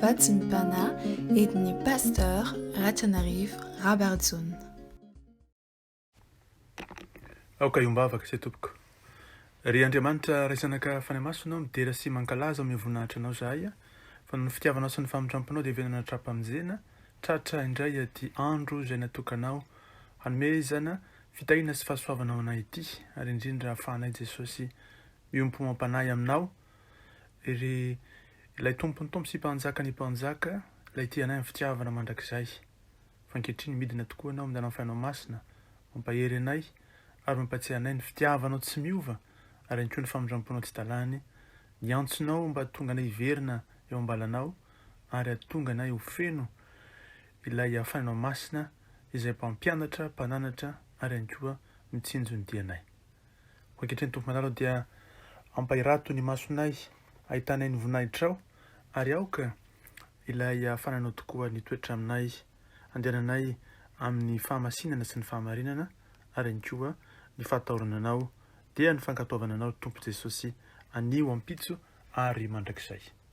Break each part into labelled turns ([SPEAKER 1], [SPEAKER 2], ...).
[SPEAKER 1] Vatsy ny Pana, edin'ny Pasteur Ratranarivo Rabarijaona.
[SPEAKER 2] Aoka hiombavaka isay tompoko. Ry Andriamanitra raizanaka fanahy masina ô midera sy mankalaza amin'ny voninahitra anao zahay fa noho ny fitiavanao sy ny famindramponao dia venana tra-pamonjena tratra indray aty andro izay natokanao hanomezana fitahiana sy fahasoavana ho anay ity ary indrindra ahafahanay Jesosy miompo amam-panahy aminao Ry Ilay Tompon'ny Tompo sy Mpanjakan'ny mpanjaka, Ilay tia anay amin'ny fitiavana mandrakizay. Fa ankehitriny midina tokoa Ianao amin'ny lalan'ny Fanahy Masina, mampahery anay ary mampatsiahy anay ny fitiavanao tsy miova ary ihany koa ny famindramponao tsy talàny, ny antsonao mba hahatonga anay hiverina eo am-balanao ary hahatonga anay ho feno Ilay Fanahinao Masina izay Mpampianatra, Mpananatra ary ihany koa mitsinjo ny dianay. Ankehitriny, Tompo Manara ô, dia ampahirato ny masonay ahitanay ny voninahitrao, ary aoka ilay hafananao tokoa ny toetra aminay, andehananay amin'ny fahamasinana sy ny fahamarinana, ary ihany koa ny fahatahorana Anao, dia ny fankatoavana Anao, Tompo Jesosy, anio, ampitso, ary mandrakizay.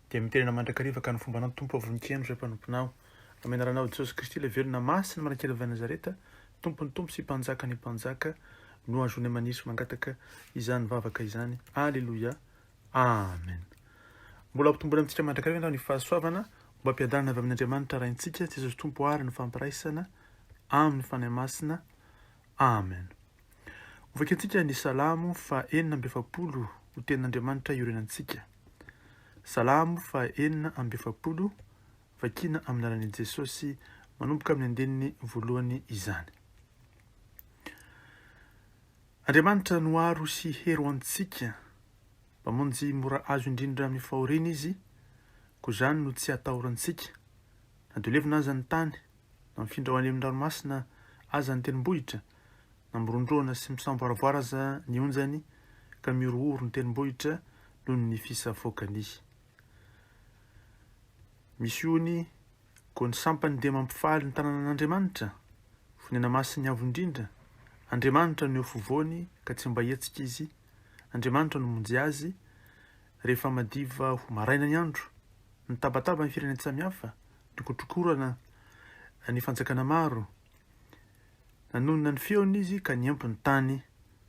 [SPEAKER 2] dia miterena mandrakariva ka ny fombanao ny Tompo avonkieno ry mpanomponao amin'ny anaranao Jesosy Kristy ilay velona masina marakely avy any Nazareta Tompon'ny Tompo sy Mpanjakan'ny Mpanjaka no azonay manisy mangataka izany vavaka izany Aleloia Amen Mbola hampitomboina amintsika mandrakariva ianao ny fahasoavana mba hampiadanana avy amin'Andriamanitra Raintsika Jesosy Tompo ary ny fampiraisana amin'ny Fanahy Masina Amen Hovakintsika ny Salamo fa enina amby efapolo ho tenin'Andriamanitra iorenantsika Salamo faha enina amby efapolo, Vakiana amin'ny lalan'i Jesosy manomboka amin'ny andininy voalohany izany. Andriamanitra no aro sy hero antsika, Mpamonjy mora azo indrindra amin'ny fahoriana Izy, koa izany no tsy atahorantsika, na dia ho levona aza ny tany, Na mifindra ho any amin'ny ranomasina aza ny tendrombohitra, na mirondrona sy misamboaravoara aza ny onjany, ka mihorohoro ny tendrombohitra noho ny fisavoakany. Misy ony, koa ny sampany dia mampifaly ny tananan'Andriamanitra, Fonenamasin'ny Avo Indrindra, Andriamanitra no eo fovoany ka tsy mba hihetsika izy, Andriamanitra no monjy azy, rehefa madiva ho maraina ny andro, mitabataba ny firenen-tsamihafa, Nokotrokorana ny fanjakana maro. Nanonona ny feony izy ka nihampy ny tany.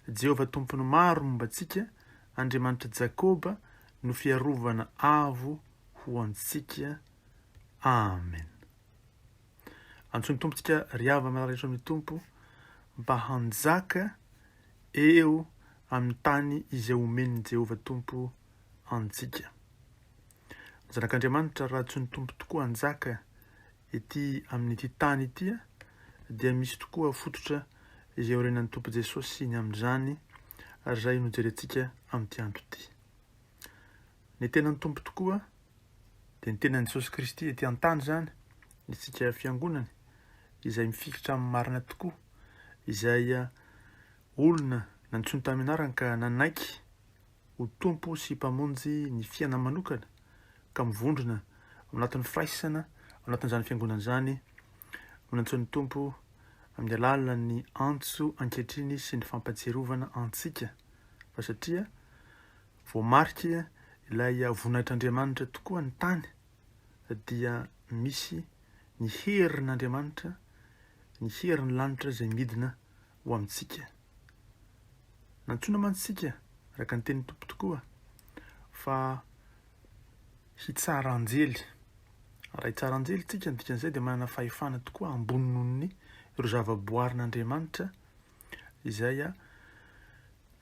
[SPEAKER 2] Jehovah Tompon'ny maro momba antsika, Andriamanitr'i Jakoba no fiarovana avo ho antsika. Amen. Antsoin'ny Tompo antsika ry havana marary eto amin'ny Tompo mba hanjaka eo amin'ny tany izay omen'i Jehovah Tompo antsika. Ny Zanak'Andriamanitra, raha tsy ny Tompo tokoa hanjaka ety amin'ity tany ity, dia misy tokoa fototra izay aorianan'ny Tompo Jesosy ny amin'izany, ary izay no jerentsika amin'ity andro ity. Ny tenan'ny Tompo tokoa, dia ny tenan'i Jesosy Kristy ety an-tany izany, isika Fiangonany, izay mifikitra amin'ny marina tokoa, izay olona nantsoiny tamin'ny anarany ka nanaiky ho Tompo sy Mpamonjy ny fiainany manokana ka mivondrona ao anatin'ny firaisana ao anatin'izany Fiangonana izany no nantsoin'ny Tompo amin'ny alalan'ny antso ankehitriny sy ny fampatsiarovana antsika fa satria voamarika ilay voninahitr'Andriamanitra tokoa ny tany dia misy ny herin'Andriamanitra ny herin'ny lanitra izay midina ho amintsika. Nantsoina mantsy isika, araka ny tenin'ny Tompo tokoa, fa hitsara anjely. Raha hitsara anjely isika, ny dikan'izay dia manana fahefana tokoa ambony noho ny ireo zavaboarin'Andriamanitra izay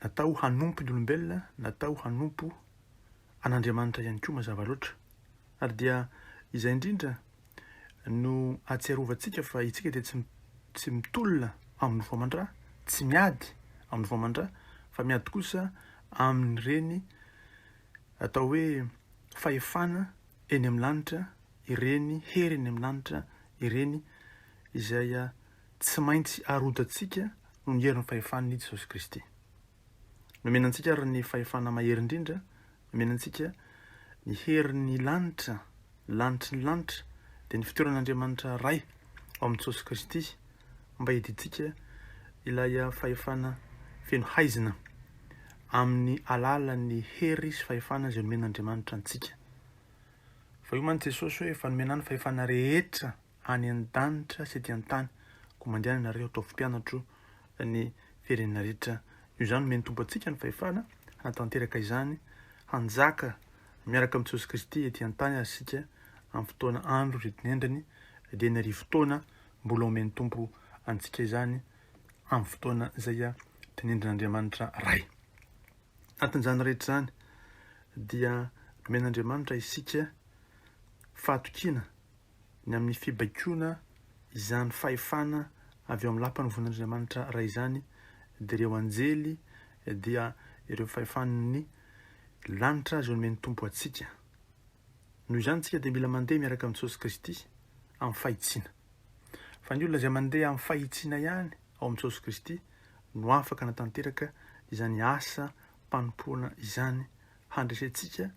[SPEAKER 2] natao hanompo ny olombelona, natao hanompo An'Andriamanitra ihany koa mazava loatra. Ary dia izay indrindra no ahatsiarovantsika fa itsika dia tsy tsy mitolona amin'ny voamandra, tsy miady amin'ny voamandra, fa miady kosa amin'ireny atao hoe fahefana eny amin'ny lanitra, ireny hery eny amin'ny lanitra ireny izay tsy maintsy arodantsika noho ny herin'ny fahefan'i Jesosy Kristy. Nomena antsika ary ny fahefana mahery indrindra, nomena antsika ny herin'ny lanitra, lanitry ny lanitra, dia ny fitoeran'Andriamanitra Ray ao amin'i Jesosy Kristy mba hidintsika ilay fahefana feno haizina amin'ny alalan'ny hery sy fahefana izay nomen'Andriamanitra antsika. Fa io mantsy Jesosy hoe efa nomena ny fahefana rehetra any an-danitra sy ety an-tany, koa mandeha any ianareo ataovy mpianatro ny firenena rehetra. Noho izany, omen'ny Tompo antsika ny fahefana hanatanteraka izany, hanjaka miaraka amin'i Jesosy Kristy ety an-tany ary isika amin'ny fotoana andro ririnendriny dia ny arivo taona, mbola omen'ny Tompo antsika izany amin'ny fotoana izay tenendrin'Andriamanitra Ray. Anatin'izany rehetra izany dia nomen'Andriamanitra isika fahatokiana, ny amin'ny fibaikoana izany fahefana avy ao amin'ny lapan'ny vonin'Andriamanitra Ray izany dia ireo anjely dia ireo fahefan'ny lanitra izay nomen'ny Tompo antsika. Noho izany isika dia mila mandeha miaraka amin'i Jesosy Kristy amin'ny fahitsiana. Fa ny olona izay mandeha amin'ny fahitsiana ihany ao amin'i Jesosy Kristy no afaka hanatanteraka izany asa mpanompoana izany handresentsika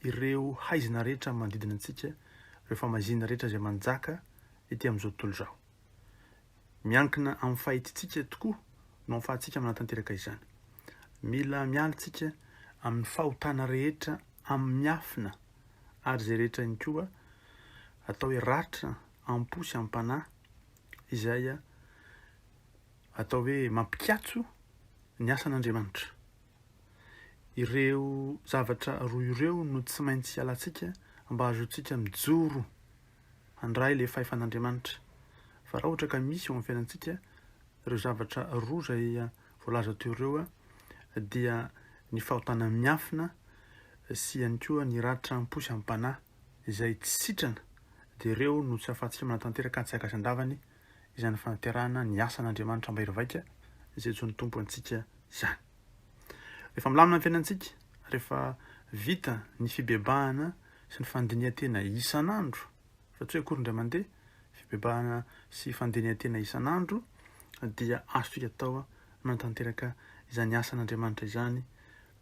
[SPEAKER 2] ireo haizina rehetra manodidina antsika, ireo famaizina rehetra izay manjaka ety amin'izao tontolo izao. Miankina amin'ny fahitintsika tokoa no ahafahantsika manatanteraka izany. Mila miala isika amin'ny fahotana rehetra amin'ny miafina ary izay rehetra ihany koa atao hoe ratra am-po sy am-panahy izay atao hoe mampikatso ny asan'Andriamanitra. Ireo zavatra roa ireo no tsy maintsy hialantsika mba hahazoantsika mijoro handray ilay fahefan'Andriamanitra. Fa raha ohatra ka misy eo amin'ny fiainantsika ireo zavatra roa izay voalaza teo ireo dia ny fahotana miafina sy ihany koa ny ratra am-po sy am-panahy izay tsy sitrana dia ireo no tsy afa-tsy manatanteraka antsika ka tsy andavany izany fanaterana ny asan'Andriamanitra mahery vaika izay join'ny Tompo antsika izany. Rehefa milamina ny fiainantsika, rehefa vita ny fibebahana sy ny fandinihan-tena isan'andro, fa tsy hoe akory indray mandeha, fibebahana sy fandinihan-tena isan'andro, dia azontsika atao manatanteraka izany asan'Andriamanitra izany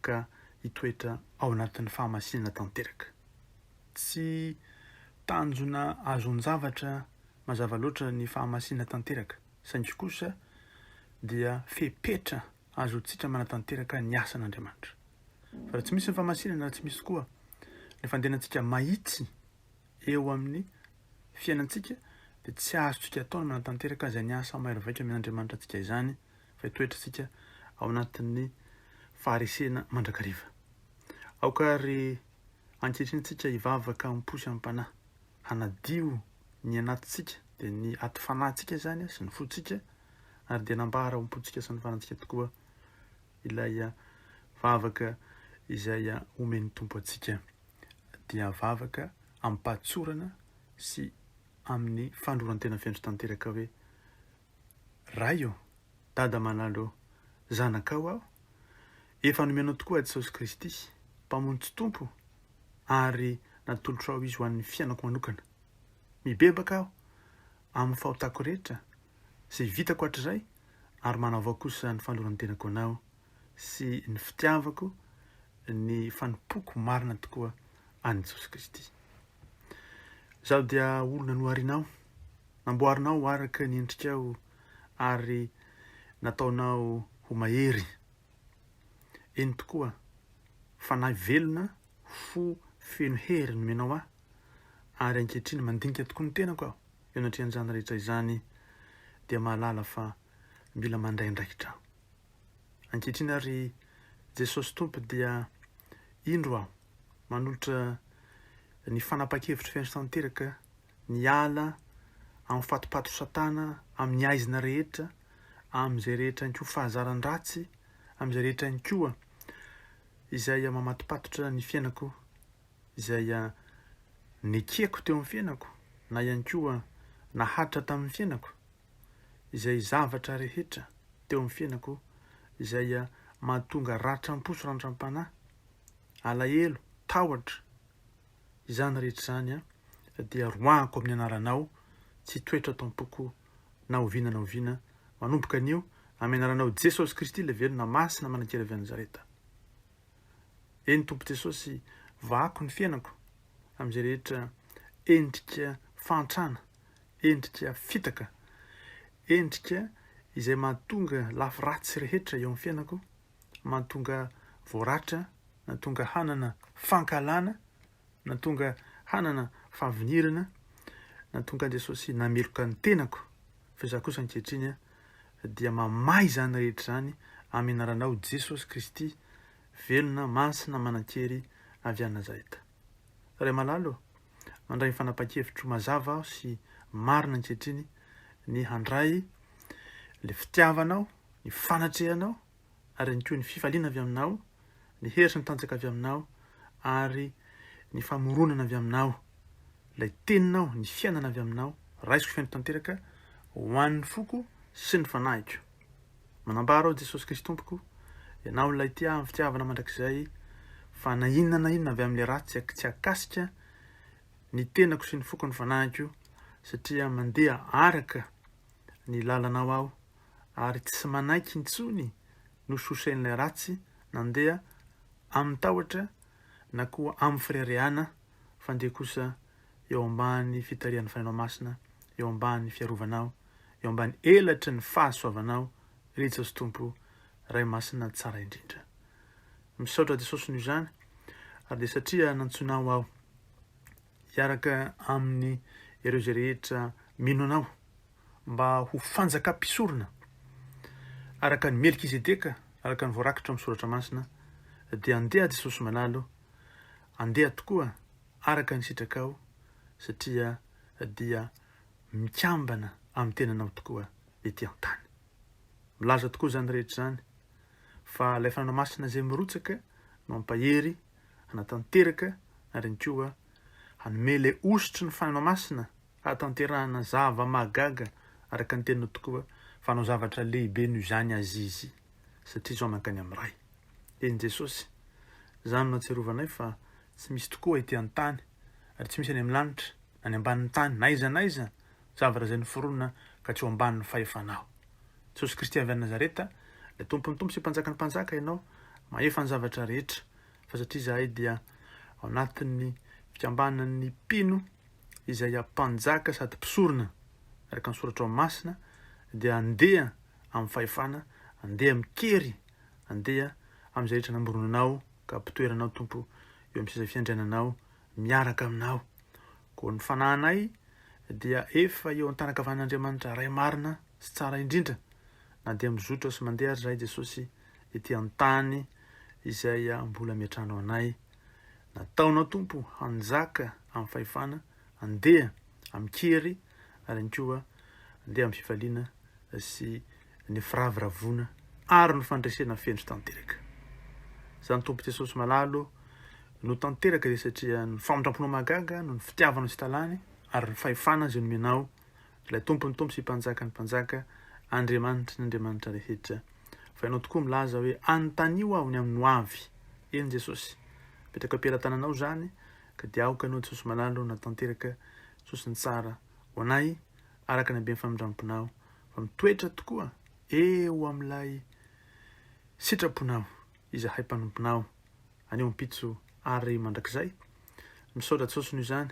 [SPEAKER 2] ka hitoetra ao anatin'ny fahamasinana tanteraka. Tsy tanjona azon-javatra Mazava loatra ny fahamasina tanteraka, saingy kosa dia fepetra azontsika manatanteraka ny asan'Andriamanitra. Fa raha tsy misy ny fahamasinana, raha tsy misy koa ny fandehanantsika mahitsy eo amin'ny fiainantsika, dia tsy azontsika atao ny manatanteraka izany asa mahery vaika omen'Andriamanitra antsika izany, fa hitoetrantsika ao anatin'ny faharesena mandrakariva. Aoka àry ankehitriny isika hivavaka amim-po sy amim-panahy. hanadio ny anatintsika, dia ny aty fanahintsika izany sy ny fontsika, ary dia nambara ho am-pontsika sy ny fanantsika tokoa ilay vavaka izay omen'ny Tompo antsika, dia vavaka amim-pahatsorana sy amin'ny fanoloran-tena feno sy tanteraka hoe, Ray ô, Dada malala ô, zanakao aho, efa nomenao tokoa Jesosy Kristy, Mpamonjy sy Tompo, ary natolotrao Izy ho an'ny fiainako manokana. Mibebaka aho amin'ny fahotako rehetra, izay vitako hatrizay, ary manavao kosa izany fanoloran-tenako anao. sy ny fitiavako ny fanompoako marina tokoa an'i Jesosy Kristy. Izaho dia olona noharinao, namboarinao araka ny endrikao ary nataonao ho mahery. Eny tokoa, fanahy velona, fo feno hery nomenao ahy, ary ankehitriny mandinika tokoa ny tenako aho eo anatrehan'izany rehetra izany dia mahalala fa mila mandray andraikitra aho. Ankehitriny ary Jesosy Tompo dia indro aho manolotra ny fanapahan-kevitro feno tanteraka ny ala amin'ny fatipaty satana amin'ny aizina rehetra amin'izay rehetra ihany koa fahazaran-dratsy amin'izay rehetra ihany koa izay mamatopatotra ny fiainako izay nekeko teo amin'ny fiainako na ihany koa nahatra tamin'ny fiainako izay zavatra rehetra teo amin'ny fiainako izay mahatonga ratram-po sy rantram-panahy, alahelo, tahotra, izany rehetra izany dia roahako amin'ny anaranao, tsy hitoetra ato am-poko na oviana na oviana, manomboka anio, amin'ny anaranao Jesosy Kristy ilay velona masina manan-kery avy any Nazareta. Eny Tompo Jesosy, vahako ny fiainako amin'izay rehetra endrika fahantrana endrika fitaka, endrika izay mahatonga lafy ratsy rehetra eo amin'ny fiainako, mahatonga voaratra, nahatonga hanana fankahalana, nahatonga hanana fahavinirana, nahatonga an'i Jesosy nameloka ny tenako, fa izaho kosa ankehitriny dia mamaha izany rehetra izany amin'ny anaranao Jesosy Kristy, velona, masina, manan-kery avy any Nazareta. Ray malalo, mandray ny fanapahan-kevitro mazava aho sy marina ankehitriny ny handray ilay fitiavanao, ny fanatrehanao ary ihany koa ny fifaliana avy aminao, ny hery sy ny tanjaka avy aminao ary ny famoronana avy aminao. Ilay teninao, ny fiainana avy aminao, raisiko feno tanteraka ho an'ny foko sy ny fanahiko. Manampaharo aho Jesosy Kristy Tompoko, Ianao ilay tia ahy amin'ny fitiavana mandrakizay, fa na inona na inona avy amin'ilay ratsy tsy tsy hakasika ny tenako sy ny foko ny fanahiko, satria mandeha araka ny lalanao aho, ary tsy manaiky intsony nososehin'ilay ratsy nandeha amin'ny tahotra na koa amin'ny fireharehana, fa ndeha kosa eo ambany fitarihan'ny Fanahinao Masina, eo ambany fiarovanao, eo ambany elatry ny fahasoavanao, ry Jesosy Tompo, Ray Masina tsara indrindra. Misaotra Jesosy noho izany, ary dia satria nantsoinao aho hiaraka aminy ireo izay rehetra mino anao, mba ho fanjaka mpisorona, araka ny Melkizedeka, araka ny voarakitra amin'ny Soratra Masina, dia andeha Jesosy malalo, andeha tokoa araka ny sitrakao satria dia mikambana amin'ny tenanao tokoa ety an-tany. Milaza tokoa izany rehetra izany fa ilay Fanahy Masina izay mirotsaka no hampahery, hanatanteraka ary ihany koa hanome ilay hosotry ny Fanahy Masina Hahatanterahana zava-mahagaga araka ny teniny tokoa fa hanao zavatra lehibe noho izany Azizy satria izao mankany amin'ny Ray. Eny Jesosy, izany no atsirovanay fa tsy misy tokoa ety an-tany ary tsy misy any amin'ny lanitra na ny ambanin'ny tany na aiza na aiza zavatra izay noforonina ka tsy ho ambanin'ny fahefanao. Jesosy Kristy avy any Nazareta, ilay Tompon'ny Tompo sy Mpanjakan'ny Mpanjaka ianao, mahefa ny zavatra rehetra fa satria izahay dia ao anatin'ny fikambanan'ny mpino izay hampanjaka sady mpisorona araka ny soratrao masina dia andeha amin'ny fahefana, andeha amin-kery, andeha amin'izay rehetra namboronanao ka ampitoera anao Tompo eo amin'ny seza fiandriananao miaraka aminao. Koa ny fanahinay dia efa eo an-tanankavan'Andriamanitra Ray marina sy tsara indrindra na dia mizotra sy mandeha ary izahay Jesosy ety an-tany izay mbola miantrano anay. Nataonao, Tompo, hanjaka amin'ny fahefana, handeha amin-kery, ary ihany koa handeha amin'ny fifaliana sy ny firavoravoana ary ny fandresena feno tanteraka. Izany, Tompo Jesosy malalo, no tanteraka izay satria ny famindram-ponao mahagaga no ny fitiavanao tsy talany ary ny fahefana izay nomenao Ilay Tompon'ny tompo sy Mpanjakan'ny mpanjaka, Andriamanitry ny andriamanitra rehetra. Fa Ianao tokoa milaza hoe, Anontanio Aho ny amin'ny hoavy. Eny Jesosy, apetrako am-pelatananao izany, ka dia aoka Ianao Jesosy malala o, na tanteraka Jesosy ny tsara ho anay, araka ny haben'ny famindram-ponao, fa mitoetra tokoa eo amin'ilay sitraponao izahay mpanomponao, anio ampitso ary mandrakizay. Misaotra Jesosy noho izany.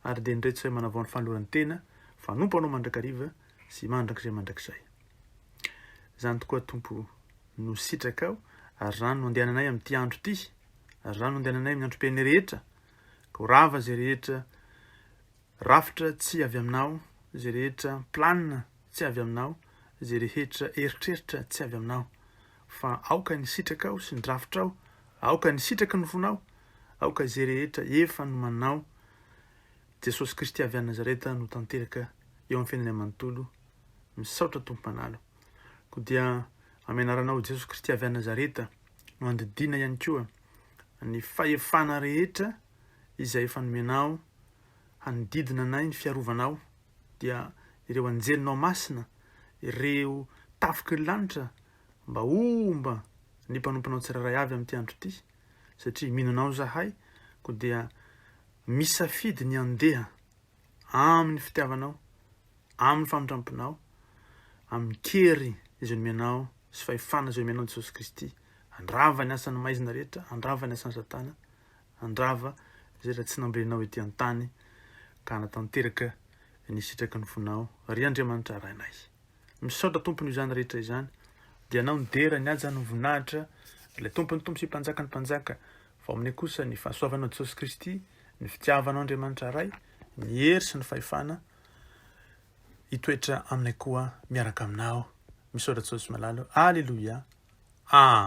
[SPEAKER 2] ary dia nireto sahy manavao ny fanolorany tena, Mpanompo Anao mandrakariva sy mandrakizay mandrakizay. Izany tokoa Tompo no sitrakao, ary izany no andehananay amin'ity andro ity, ary izany no andehananay amin'ny androm-piainay rehetra, ka ho rava izay rehetra rafitra tsy avy Aminao, izay rehetra planina tsy avy Aminao, izay rehetra eritreritra tsy avy Aminao, Fa aoka ny sitrakao sy ny drafitrao, aoka ny sitraky ny fonao, aoka izay rehetra efa nomanao, Jesosy Kristy avy any Nazareta no tanteraka eo amin'ny fiainanay manontolo, misaotra Tompo Mpanalo. Koa dia amin'ny anaranao Jesosy Kristy avy any Nazareta no andidiana ihany koa ny fahefana rehetra izay efa nomenao hanodidina anay ny fiarovanao dia ireo anjelinao masina, ireo tafiky ny lanitra mba homba ny mpanomponao tsirairay avy amin'ity andro ity, satria mino anao izahay, koa dia misafidy ny handeha amin'ny fitiavanao, amin'ny famindram-ponao, amin'ny kery izay nomenao sy fahefana izay nomenao an'i Jesosy Kristy, handrava ny asan'ny maizina rehetra, handrava ny asan'i Satana, handrava izay raha tsy nambenao ety an-tany ka hanatanteraka ny sitraky ny fonao ry Andriamanitra Rainay. Misaotra Tompony izany rehetra izany dia anao ny dera ny haja ny voninahitra ilay Tompon'ny Tompo sy Mpanjakan'ny Mpanjaka fa omeny kosa ny fahasoavanao Jesosy Kristy ny fitiavanao Andriamanitra Ray ny hery sy ny fahefana hitoetra aminay koa miaraka aminao. Misaotra Jesosy Malala. Aleloia. Amen.